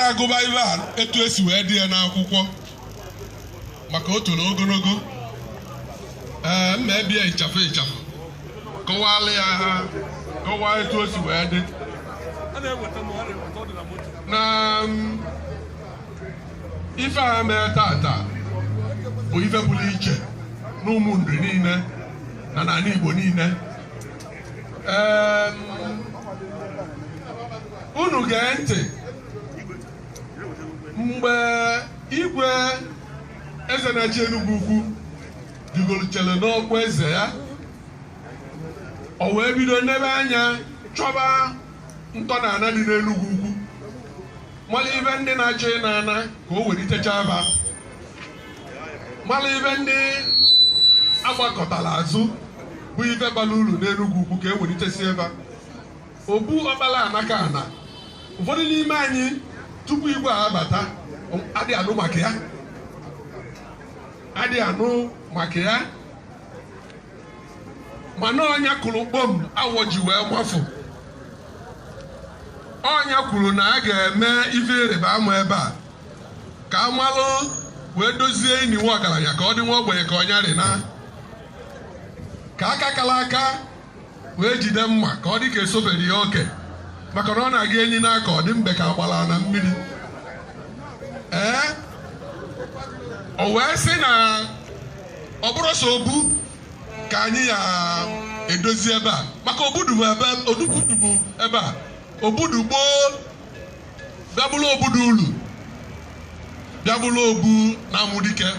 na-agụba ife a etu e si wee dee ya n'akwụkwọ maka o toro ogologo ee m na-ebi ya ịchafụ ịchafụ kọwalụ ya ha kọwaa etu o si wee dị na mm, ife a mee tata bụ ife pụrụ iche n'Ụmụnri niile na n'ani Igbo niile ee mm, unu gee ntị mgbe igwe eze na-achị Enugwu ukwu rigoluchara n'ọkwa eze ya o wee bido nebe anya chọba ntọnana dị n'Enugwu ukwu malụ ife ndị na-achọ ịna ana ka o welitecha fa malụ ife ndị a gbakụtara azụ bụ ife bara uru n'Enugwu ukwu ka e welitesie fa obu Ọkpalanakana ụfọdụ n'ime anyị tupu igwe a abata adị anụ maka ya adị anụ maka ya mana ọ nya kụlụ kpọm awọ ji wee mafụ ọ nya kwuru na a ga-eme ife ịrịba ama ebe a ka a malụ wee dozie ini nwa ọgaranya ka ọ dị nwa ogbenye ka ọ nya rị na ka aka kala aka wee jide mma ka ọ dị ka esobere ya oke maka na ọ na-aga enyi n'aka ọ dị mbe ka agbara na mmiri ee o wee sị na ọ bụrụ sọ obu ka anyị ya-edozi ebe a maka obu dụ bụ ebe odukwudu bụ ebe a obu dụ gboo bịa bụrụ obodo ulu bịa bụrụ obu na-amụ dike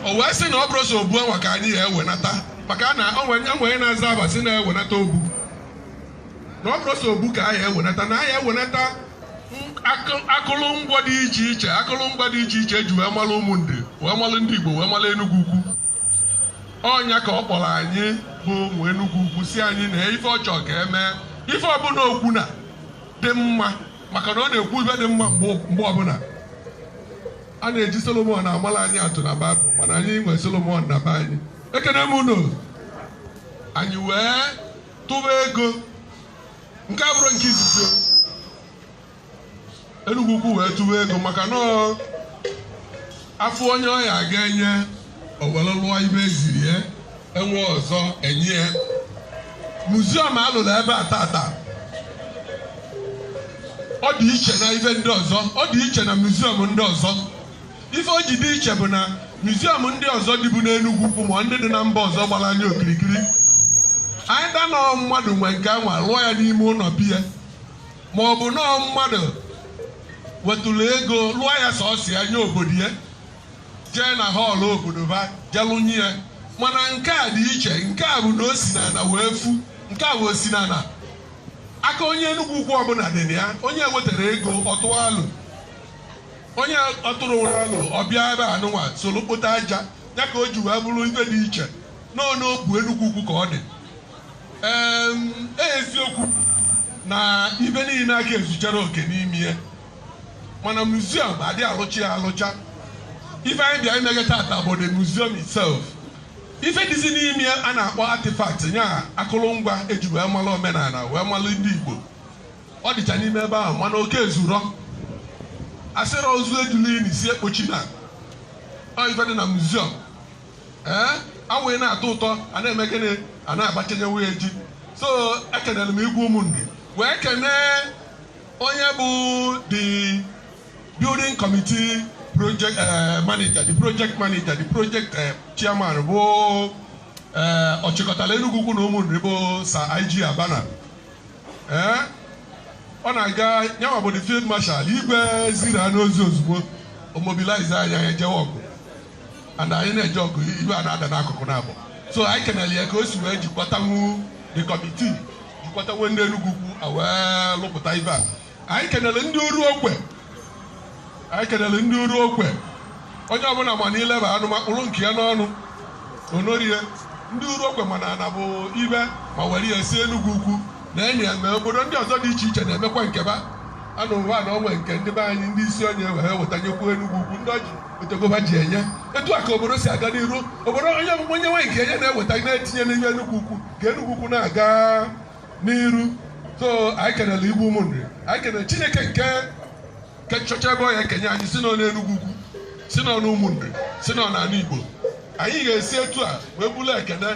o wee sị na ọ bụrụ sọ obu anwa ka anyị ya-ewenata maka na onwe na-aza aba sị na e wenata obu na ọ bụrụ sọ obu ka anyị ewenata na anyị ewenata akụlụngwa dị iche iche akụlụngwa dị iche iche e ji wee malụ Ụmụnri wee malụ ndị Igbo wee malụ Enugwu ukwu ọ nya ka ọ kpọrọ anyị bụ ụmụ Enugwu ukwu sị anyị na ife ọ chọ ka e mee ife ọbụna o kwu na-adị mma maka na ọ na-ekwu ife dị mma mgbe ọbụna a na-eji Solomon amala anyị atụ na Baịbụl mana anyị nwere Solomon na be anyị ekene m unu anyị wee tụba ego nke a bụrụ nke izizi Enugwu ukwu wee tụwa ego maka na a fụ onye ọ ya a ga-enye o were lụọ ife e ziri ya e nwee ọzọ e nye ya muziọm a lụrụ ebe a tata ọ dị iche na ibe ndị ọzọ ọ dị iche na muziọm ndị ọzọ ife o ji dị iche bụ na muziọm ndị ọzọ dịbu n'Enugwu ukwu ma ndị dị na mba ọzọ gbara anyị okirikiri anyị danọ mmadụ nwe nke anwa lụọ ya n'ime ụnọ be ya ma ọ bụ na ọ mmadụ wetụrụ ego lụọ ya sọsọ ya nye obodo ya jee na hall obodo ba jelụnye ya mana nke a dị iche nke a bụ na o si n'ala wee fu nke a bụ o si n'ala aka onye Enugwu ukwu ọbụla dị na ya onye wetara ego ọtụ alụ onye ọtụrụ ụra alụ ọ bịa ebe anụnwa soro kpota aja ya ka o ji wee bụrụ ife dị iche na ọ n'obu Enugwu ukwu ka ọ dị eziokwu na ife niile aka ezucharọ oke n'ime ya mana museum a dị alụcha ya alụcha ife anyị bịa imeghe tata bụ the museum itself ife dịzi n'ime ya a na-akpọ artifact nya akụrụngwa eji wee malụ omenala wee malụ ndị Igbo ọ dịcha n'ime ebe ahụ mana ọ ka ezurọ asịrọ ozu ejula ini si ekpochina ọ ife dị na museum ee awaị na-atọ ụtọ a na-eme gịnị a na-abachanyekwunye ji so ekenere m igwe Ụmụnri wee kenee onye bụ the building committee project eh, manager the project manager the project eh, chairman bụ eh, ọchịkọtala Enugwu ukwu na Ụmụnri bụ Sir IG Abana ee ọ na-aga nyanwa bụ the field marshal igwe zira n'ozi ozugbo o mobilize anyị e jewe ọgụ and anyị na-eje ọgụ ife a na-ada n'akụkụ na-abụ so anyị kenere ya ka o si wee jikwatawu the committee jikwatawu ndị Enugwu ukwu a wee lụpụta ife a anyị kenere ndị Uruokwe anyị kenere ndị Uruokwe onye ọbụla ma na ileba anụ ma kpụrụ nke ya n'ọnụ onorie ndị Uruokwe mana ana bụ ife ma were ya si Enugwu ukwu na enyi ya mee obodo ndị ọzọ dị iche iche na-emekwa nke ba anụ ụwa na onwe nke ndị be anyị ndị isi onye wee wetanyekwu Enugwu ukwu ndị Orji otogoba ji enye etu a ka obodo si aga n'iru obodo onye ọbụla onye nwe nke enye na-eweta na-etinye n'ihe enugwu ukwu ka enugwu ukwu na-aga n'iru so anyị kenere igwe ụmụnri anyị kenere chineke nke nke nchọcha ebe ọ ya ekenye anyị si n'ọnụ enugwu ukwu si n'ọnụ ụmụnri si n'ọnụ ala igbo anyị ga-esi etu a wee buru ekene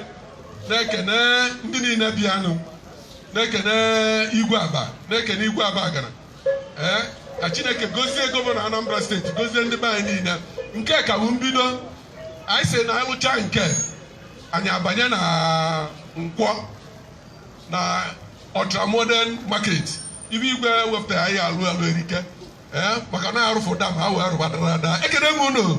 na-ekene ndị niile bịanụ na-ekene igwe Abba na-ekene igwe Abagana ee ka chineke gozie gọvanọ anambra steeti gozie ndị be anyị niile nke a ka bụ mbido anyị si na anyị lụcha nke a anyị abanye na nkwọ na ultramodern market ife igwe wepụtara anyị alụ alụ erike ee maka na arụfụ dam ha wee rụba dara ada ekene m unu